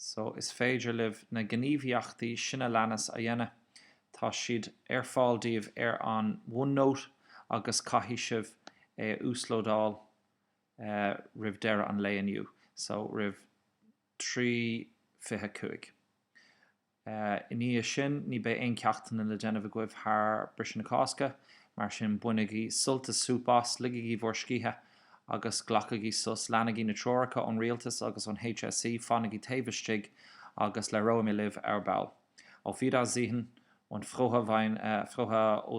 so is féidir libh na gníomhaíochtaí sin a leanas a dhéanamh, tá siad ar fáil daoibh ar an OneNote agus caithfidh sibh é a uaslódáil roimh deireadh an lae inniu, so roimh 3:25. Ina dhiaidh sin, ní bheidh aon ceachtanna le déanamh agaibh thar briseadh na Cásca, mar sin bainigí sult is súp as, ligigí bhur scíthe agus glacaigí sos, leanaigí na treoracha ón Rialtas agus ón HSE, fanaigí taobh istigh agus labhróidh mé libh ar ball. Auf Wiedersehen und frohe Weihnachten.